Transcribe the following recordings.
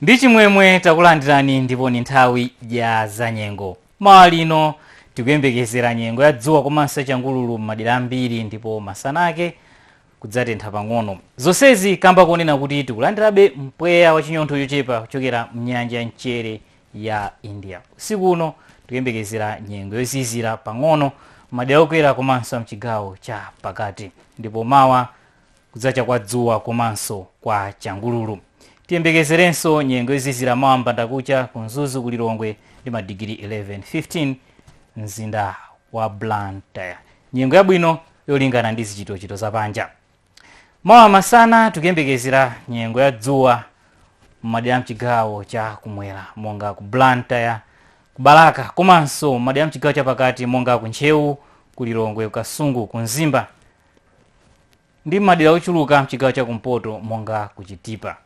ndi chimwemwe takulandirani ndipo ni nthawi ya zanyengo mawa lino tikuyembekezera nyengo ya dzuwa komanso ya changululu m'madera ambiri ndipo masana ake kudzatentha pang'ono zonsezi kamba kunena kuti tikulandirabe mpweya wa chinyontho chochepa kuchokera mnyanja ya mchere ya india usiku uno tikuyembekezera nyengo yozizira pang'ono m'madera okwera komanso mchigawo cha pakati ndipo mawa kudzacha kwa dzuwa komanso kwa changululu tiyembekezerenso nyengo yozizira mawa mbandakucha ku mzuzu ku lilongwe ndi madigiri 11 15 mzinda wa blantyre nyengo yabwino yolingana ndi zochitikachitika za panja mawa masana tikuyembekezera nyengo ya dzuwa m'madera mchigawo cha kumwera monga ku blantyre ku balaka komanso m'madera mchigawo chapakati monga ku ntcheu ku lilongwe ku kasungu ku mzimba ndi m'madera ochuluka mchigawo cha kumpoto monga ku chitipa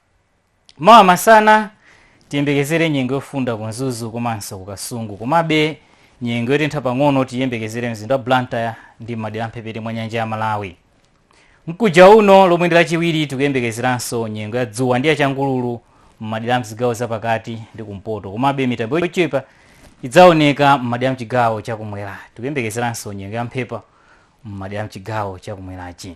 Mawa masana tiyembekezere nyengo yofunda ku Mzuzu komanso ku Kasungu komabe nyengo yotentha pang'ono tiyembekezere mzinda wa Blantyre ndi m'madera mphepete mwa nyanja ya Malawi. Mkuja uno lomwe ndi lachiwiri tikuyembekezeranso nyengo ya dzuwa ndi ya changululu m'madera mzigawo zapakati ndi kumpoto komabe mitambo yochepa idzaoneka m'madera mchigawo chakumwera. Tikuyembekezeranso nyengo ya mphepo m'madera mchigawo chakumwerachi.